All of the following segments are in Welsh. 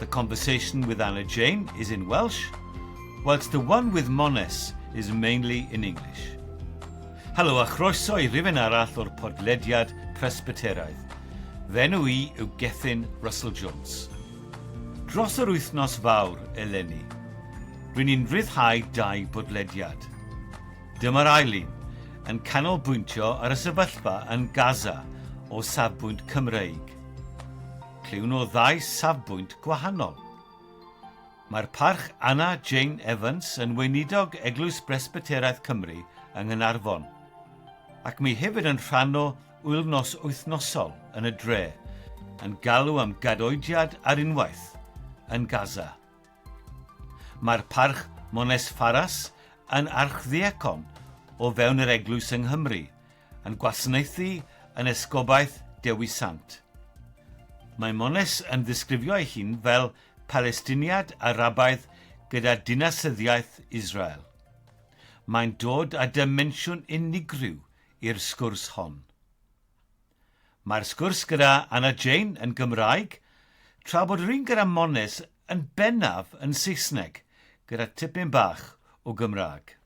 The conversation with Anna Jane is in Welsh, whilst the one with Mones is mainly in English. Helo a chroeso i rifyn arall o'r podlediad Presbyteraidd. Fenw i yw Gethin Russell Jones. Dros yr wythnos fawr eleni, rwy'n i'n rhyddhau dau bodlediad. Dyma'r ail un, yn canolbwyntio ar y sefyllfa yn Gaza o safbwynt Cymreig. Clywn o ddau safbwynt gwahanol. Mae'r Parch Anna Jane Evans yn Weinidog Eglwys Bresbyteraidd Cymru yng Nghaernarfon, ac mi hefyd yn rhan o wyl-nos wythnosol yn y dre yn galw am gadoediad ar unwaith yn Gaza. Mae'r Parch Mones Faras yn archddiacon o fewn yr Eglwys yng Nghymru, Yn gwasnaethu yn Esgobaeth Dewi Sant. Maimones yn ddisgrifio ei hun fel Palestiniad Arabaidd gyda dinasyddiaeth Israel. Mae'n dod â dimensiwn unigryw i'r sgwrs hon. Mae'r sgwrs gyda Anna Jane yn Gymraeg, tra bod yr un gyda Mones yn bennaf yn Saesneg gyda tipyn bach o Gymraeg.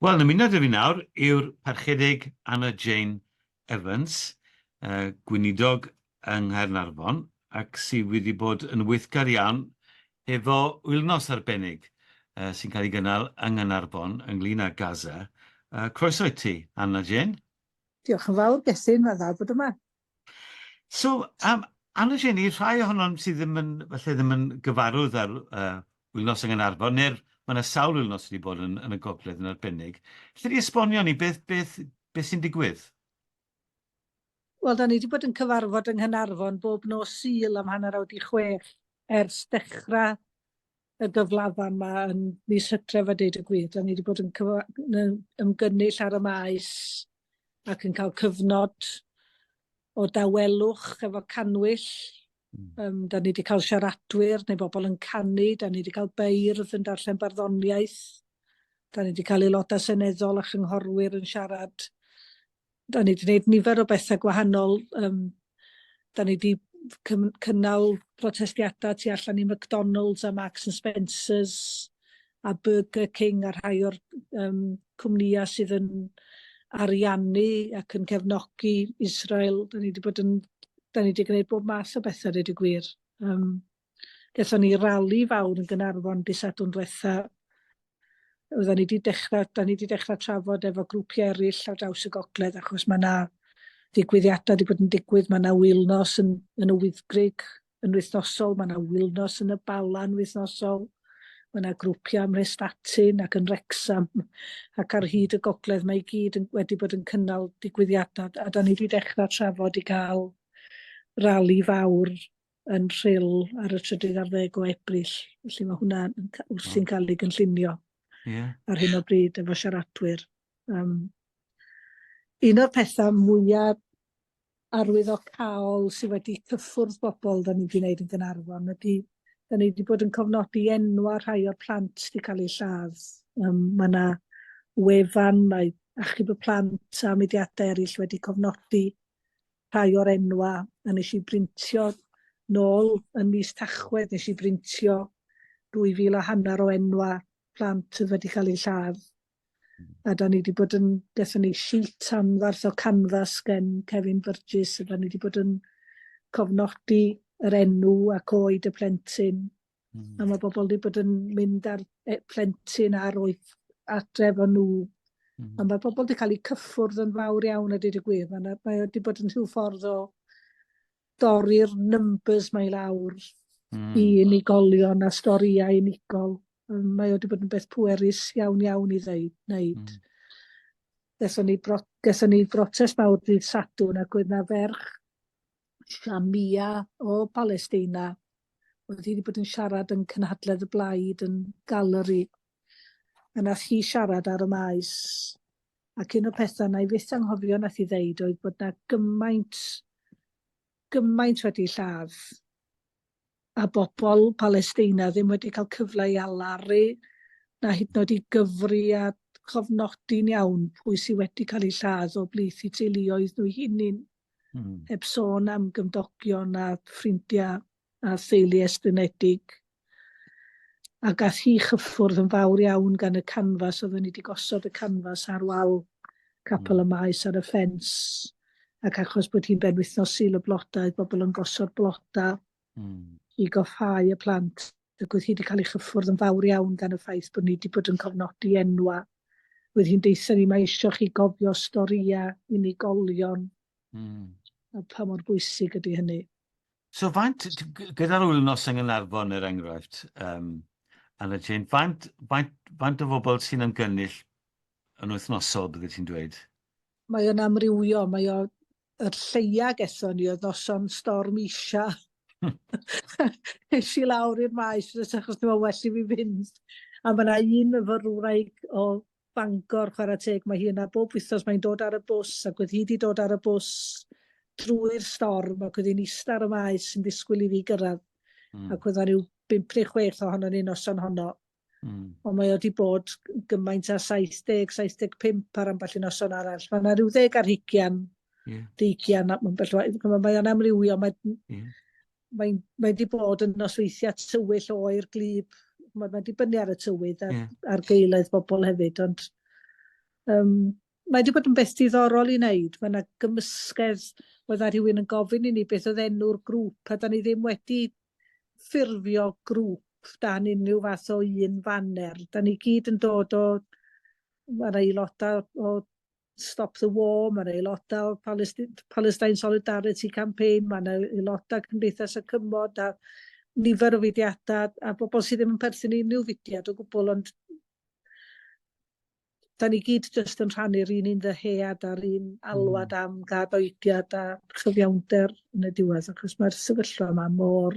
Wel, yn ymuno 'da fi nawr yw'r Parchedig Anna Jane Evans, gweinidog yng Nghaernarfon ac sydd wedi bod yn weithgar iawn efo wythnos arbennig sy'n cael ei gynnal yng Nghaernarfon ynglŷn â Gaza. Croeso i ti, Anna Jane. Diolch yn fawr, Gethin, mae'n dda bod yma. So, um, Anna Jane, i rhai ohonom sydd ddim yn, felly ddim yn gyfarwydd ar uh, wythnos yng Nghanarfon, neu'r mae yna sawl wythnos wedi bod yn, yn y gogledd yn arbennig. Lle di esbonio ni beth, beth, beth sy'n digwydd? Wel, da ni wedi bod yn cyfarfod yng Nghynarfon bob nos syl am hanner awr di chwech ers dechrau y gyflafan yma yn mis Hydref a deud y gwir. Da ni wedi bod yn ymgynnull ar y maes ac yn cael cyfnod o dawelwch efo canwyll. Um, da ni wedi cael siaradwyr neu bobl yn canu, da ni wedi cael beirdd yn darllen barddoniaeth, da ni wedi cael aelodau seneddol a chynghorwyr yn siarad Da ni wedi gwneud nifer o bethau gwahanol. Um, da ni wedi cynnal protestiadau tu allan i McDonald's a Marks and Spencer's a Burger King a rhai o'r um, cwmnïau sydd yn ariannu ac yn cefnogi Israel. Da ni wedi bod yn... Da ni wedi gwneud bob math o bethau, dweud y gwir. Um, Gaethon ni rali fawr yn Gaernarfon dydd Sadwrn diwetha'. Oeddan ni 'di dechra, 'dan ni 'di dechra trafod efo grwpia' eryll ar draws y gogledd achos ma' 'na ddigwyddiada' 'di bod yn digwydd, ma' 'na wylnos yn yn y Wyddgrug yn wythnosol, ma' 'na wylnos yn y Bala'n wythnosol, ma' 'na grwpia' ym Mhrestatyn ac yn Wrecsam ac ar hyd y gogledd mae i gyd yn wedi bod yn cynnal digwyddiada' a 'dan ni 'di dechra trafod i ga'l rali fawr yn Rhyl ar y trydydd ar ddeg o Ebrill, felly mae hwnna wrthi'n cael ei gynllunio yeah. ar hyn o bryd efo siaradwyr. Um, un o'r pethau mwyaf arwyddocaol sydd wedi cyffwrdd bobl da ni wedi gwneud yn Gynarfon ydy da ni wedi bod yn cofnodi enwa rhai o'r plant wedi cael eu lladd. Um, mae yna wefan, mae achub y plant a mudiadau eraill wedi cofnodi rhai o'r enwa a nes i brintio nôl yn mis Tachwedd nes i brintio 2000 a hanner o enwa plant sydd wedi cael eu lladd a da ni wedi bod yn dethon ni sheet am farth o canfas gen Kevin Burgess a da ni wedi bod yn cofnodi yr enw ac oed y plentyn Mm. A mae bobl wedi bod yn mynd ar e, plentyn ar oedd adre efo nhw. Mm. A mae bobl wedi cael eu cyffwrdd yn fawr iawn a dweud y gwir. Mae wedi bod yn rhyw ffordd o dorri'r numbers mae lawr mm. i unigolion a storïau unigol. Mae wedi bod yn beth pwerus iawn iawn i ddeud, wneud. Mm. Ges o'n i, bro, ni brotest mawr dydd Sadwn ac oedd na ferch Shamia o Balesteina, oedd hi wedi bod yn siarad yn cynhadledd y blaid yn galeri, a nath hi siarad ar y maes. Ac un o'r pethau na i fyth anghofio nath hi ddeud oedd bod na gymaint, gymaint wedi lladd a bobl Palesteina ddim wedi cael cyfle i alaru na hyd yn oed i gyfri a chofnodi'n iawn pwy sydd wedi cael eu lladd o blith i teuluoedd nhw'i hunain. Mm. Heb sôn am gymdogion a ffrindiau a theulu estynedig. A gath hi chyffwrdd yn fawr iawn gan y canfas, oedden ni wedi gosod y canfas ar wal capel y mm. maes ar y ffens. ac achos bod hi'n benwythnos Sul y Blodau, oedd bobl yn gosod blodau mm. i goffau y plant. Ac oedd hi wedi cael ei chyffwrdd yn fawr iawn gan y ffaith bod ni wedi bod yn cofnodi enwa. Oedd hi'n deitha ni, mae eisiau chi gofio storia unigolion mm. a pa mor bwysig ydy hynny. So faint, gyda'r wythnos yng Nghanarfon er enghraifft, um, Anna Jane, faint, faint, faint o bobl sy'n ymgynnull yn wythnosol, bydde ti'n dweud? Mae o'n amrywio, mae o... Yr lleia gethon ni oedd noson storm isha. Nes i lawr i'r maes nes achos dwi'n well i fi fynd. A mae yna un myfyrwraig o Bangor, chwarae teg, mae hi yna bob wythnos, mae'n dod ar y bws ac oedd hi wedi dod ar y bws drwy'r storm ac oedd hi'n ista ar y maes yn disgwyl i fi gyrraedd. Mm. Ac oedd rhyw bimp neu chwech ohono ni noson honno. Mm. Ond mae wedi bod gymaint â 70, 75 ar ambell i noson arall. Mae yna rhyw ddeg ar hugian, yeah. deigian, mae o'n amrywio. Mae, yeah. mae, mae wedi bod yn nosweithiau tywyll oer glib. Mae wedi bynnu ar y tywydd a'r, yeah. ar geilaidd bobl hefyd. Ond um, mae wedi bod yn beth diddorol i wneud. Mae yna gymysgedd, oedd yna rhywun yn gofyn i ni beth oedd enw'r grŵp, a da ni ddim wedi ffurfio grŵp dan unrhyw fath o un faner. Da ni gyd yn dod o, mae'r aelodau o Stop the War, mae'r aelodau o Palestine, Palestine Solidarity Campaign, mae'n aelodau Cymdeithas y Cymod a nifer o fudiadau a bobl sydd ddim yn perthyn i unrhyw fudiad o gwbl ond da ni gyd jyst yn rhannu'r un un ddyhead a'r un alwad mm. am gad oediad a chyfiawnder yn y diwedd, achos mae'r sefyllfa yma mor...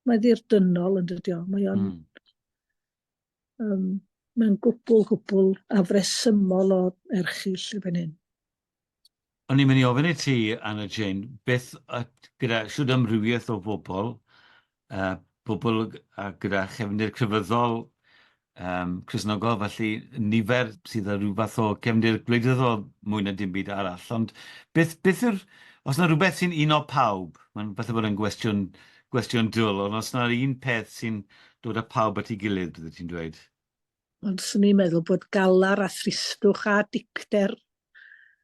Mae ddirdynnol yn dydio. Mae o'n... Mm. Um, mae'n gwbl, gwbl afresymol o erchill y fan hyn. O'n i'n mynd i ofyn i ti, Anna Jane, beth gyda shwd amrywiaeth o bobl, pobl gyda chefndir crefyddol, Cristnogol, felly nifer sydd â rhyw fath o gefndir gwleidyddol mwy na dim byd arall, ond beth yw'r... os na rhywbeth sy'n uno pawb, mae'n falle bod e'n gwestiwn dwl, ond os na un peth sy'n dod â pawb at ei gilydd, byddet ti'n dweud? Ond swn i'n meddwl bod galar a thristwch a dicter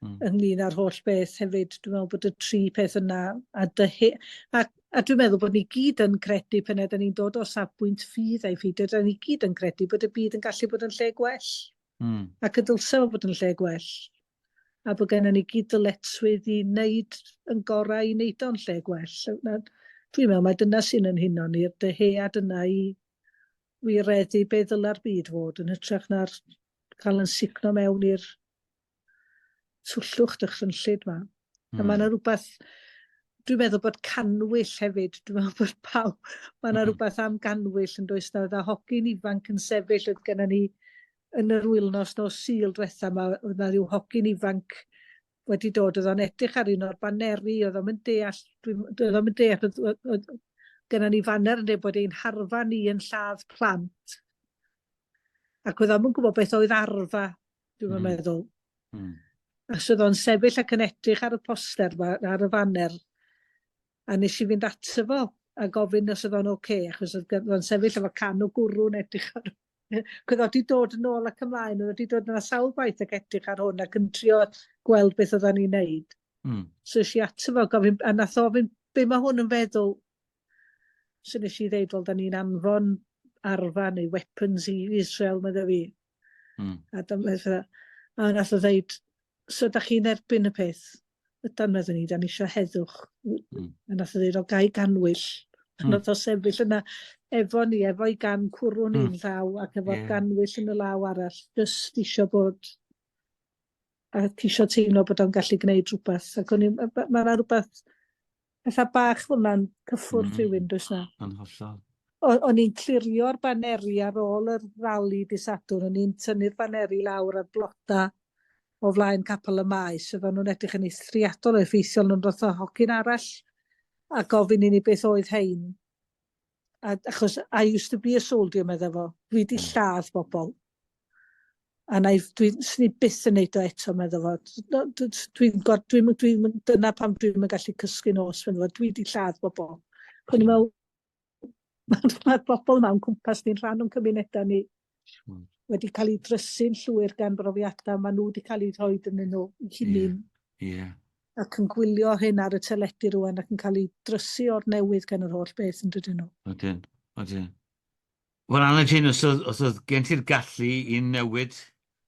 mm. ynglyn â'r holl beth hefyd. Dwi'n meddwl bod y tri peth yna a dyhu... A, a dwi'n meddwl bod ni gyd yn credu pan ydyn ni'n dod o safbwynt ffydd a'i ffydd, ydyn ni gyd yn credu bod y byd yn gallu bod yn lle gwell. Mm. Ac y dylse fod yn lle gwell. A bod gennym ni gyd dyletswydd i wneud yn gorau i wneud o'n lle gwell. Dwi'n meddwl mae dyna sy'n yn huno ni'r dyhead yna i wireddu be ddyla'r byd fod yn hytrach na'r cael yn sugno mewn i'r twllwch dychrynllyd ma. Mm. A hmm. mae yna rhywbeth, dwi'n meddwl bod canwyll hefyd, dwi'n meddwl bod pawb, mae yna hmm. rhywbeth am ganwyll yn does nawr, a hogyn ifanc yn sefyll oedd gennym ni yn yr wyl nos nos syl diwetha yma, oedd na rhyw hogyn ifanc wedi dod oedd o'n edrych ar un o'r baneri oedd o'm yn deall dwi'n oedd o'm yn deall oedd, oedd, oedd gyda ni faner yn dweud bod ein harfa ni yn lladd plant ac oedd o'm yn gwybod beth oedd arfa dwi'n mm. meddwl mm. a sydd o'n sefyll ac yn edrych ar y poster ma, ar y faner a nes i fynd ato fo a gofyn os oedd o'n oce okay, achos oedd o'n sefyll efo can o gwrw'n edrych ar Cwyd oedd di dod yn ôl ac ymlaen, oedd di dod yna sawl gwaith ac edrych ar hwn ac yn trio gweld beth oedden ni'n neud. Mm. So si ato fo, gofyn, a nath ofyn, be mae hwn yn feddwl? So nes i ddeud, wel, da ni'n anfon arfa neu weapons i Israel, mae dda fi. Mm. A dyma, a nath o ddeud, So da chi'n erbyn y peth? Ydan, meddwn ni, da ni eisiau heddwch. Mm. A nath o ddweud, o gai ganwyll. Mm. Nath o sefyll yna efo ni, efo'i gan cwrwn mm. un llaw ac efo'r yeah. ganwyll yn y law arall, just eisiau bod a ceisio teimlo bod o'n gallu gwneud rhywbeth. Ac o'n i'n, mae yna rhywbeth Petha bach fel yna'n cyffwrdd mm. rhywun, does na? Yn hollol. O'n i'n clirio'r baneri ar ôl yr rali di Sadwrn, o'n i'n tynnu'r baneri lawr ar bloda o flaen capel y maes, oedd nhw'n edrych yn eithriadol o effeithiol, nhw'n roth o hogyn arall a gofyn i ni beth oedd hein. A, achos, I used to be a soldier, meddai fo. Dwi wedi hmm. lladd bobl. A na, dwi, swn i byth yn neud o eto, meddai fo. Dwi'n dwi, dwi, dwi, dwi, dyna pam dwi'n gallu cysgu nos, meddai fo. Dwi wedi lladd bobl. Cwn i'n meddwl, mae'r bobl yma yn cwmpas ni'n rhan o'n cymunedau ni. wedi cael ei drysu'n llwyr gan brofiadau maen nhw wedi cael eu rhoi yn nhw hunain. Ie. Yeah. Yeah. Ac yn gwylio hyn ar y teledu rwan ac yn cael ei drysu o'r newydd gan yr holl beth yn dydyn nhw. Ydyn, ydyn. Wel, Anna Jane, os oedd, os oedd gen ti'r gallu i newid,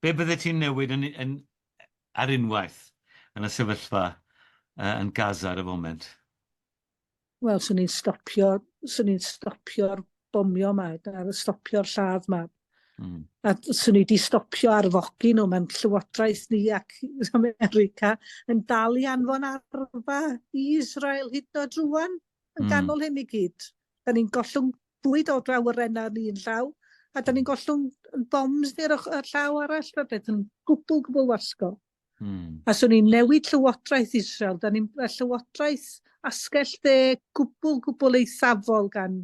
be bydde ti'n newid yn, yn, ar unwaith yn y sefyllfa uh, yn Gaza ar y foment? Wel, swn i'n stopio, swn i'n stopio'r bomio yma, a stopio'r lladd yma. Mm. A swn i wedi stopio arfogi nhw, mae'n llywodraeth ni ac America yn dal i anfon arfa i Israel hyd o drwan yn mm. ganol hyn i gyd. Da ni'n gollwng bwyd o draw yr enna ni yn llaw, a da ni'n gollwng bombs ni'r llaw arall, rhywbeth yn gwbl, gwbl wasgo. Hmm. A swn i'n newid llywodraeth Israel. Da ni'n llywodraeth asgell dde gwbl, gwbl eithafol gan,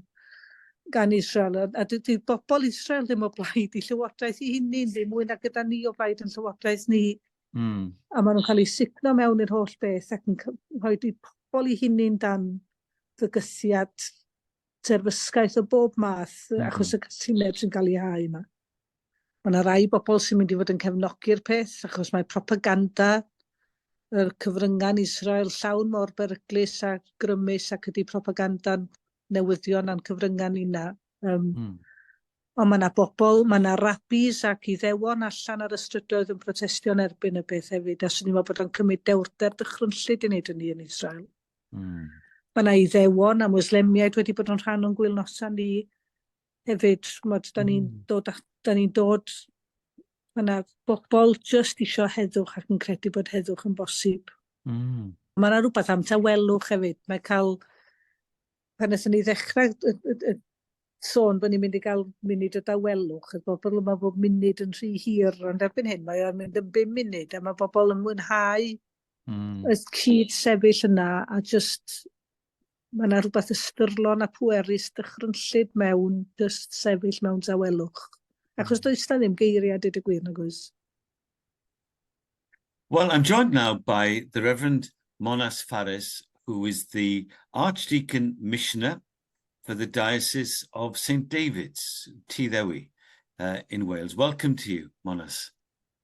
gan Israel. A, a dydy bobl Israel ddim o blaid i llywodraeth i hynny, ddim mwy na gyda ni o blaid yn llywodraeth ni. Mm. A maen nhw'n cael eu signo mewn i'r holl beth ac yn rhoi di pobl i hynny'n dan fygythiad. terfysgaeth o bob math achos y cytundeb sy'n cael ei hau yma. Mae yna rai bobl sy'n mynd i fod yn cefnogi'r peth achos mae propaganda yr cyfryngau'n Israel llawn mor beryglus a grymus ac ydy propaganda'n newyddion a'n cyfryngau ni'na. Um, mm. Ond mae yna bobl, mae yna rabis ac iddewon allan ar y strydoedd yn protestio'n erbyn y peth hefyd, a swn i'n meddwl bod o'n cymryd dewrder dychrynllyd i wneud hynny yn Israel. Mm. Mae yna Iddewon a Mwslemiaid wedi bod yn rhan o'n gwylnosa ni hefyd. Mod, da ni'n mm. dod, da ni dod mae yna bobl jyst eisiau heddwch ac yn credu bod heddwch yn bosib. Mm. Mae yna rhywbeth am tawelwch hefyd. Mae cael, pan ydyn ni ddechrau y, y, y, sôn bod ni'n mynd i gael munud o dawelwch, y bobl yma bod munud yn rhy hir, ond erbyn hyn mae o'n mynd yn bum munud, a mae bobl yn mwynhau Mm. Y cyd sefyll yna a just mae yna rhywbeth ystyrlon a pwerus dychrynllyd mewn just sefyll mewn dawelwch. Achos hmm. does na ddim geiriau dyd y gwir nag oes. Well, I'm joined now by the Reverend Monas Faris, who is the Archdeacon Missioner for the Diocese of St David's, Tŷ Ddewi, uh, in Wales. Welcome to you, Monas.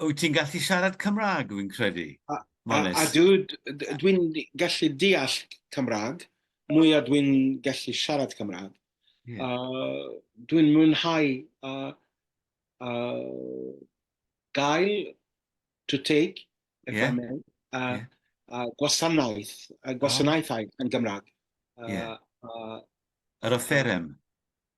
wyt ti'n gallu siarad Cymraeg, fi'n credu? A, a, a dwi'n dwi gallu deall Cymraeg, mwy a dwi'n gallu siarad Cymraeg. Yeah. Uh, dwi'n mwynhau uh, uh, gael to take, if yeah. I may, a, yeah. a gwasanaeth, a gwasanaethau oh. yn Gymraeg. Uh, yeah. uh, Yr offerem.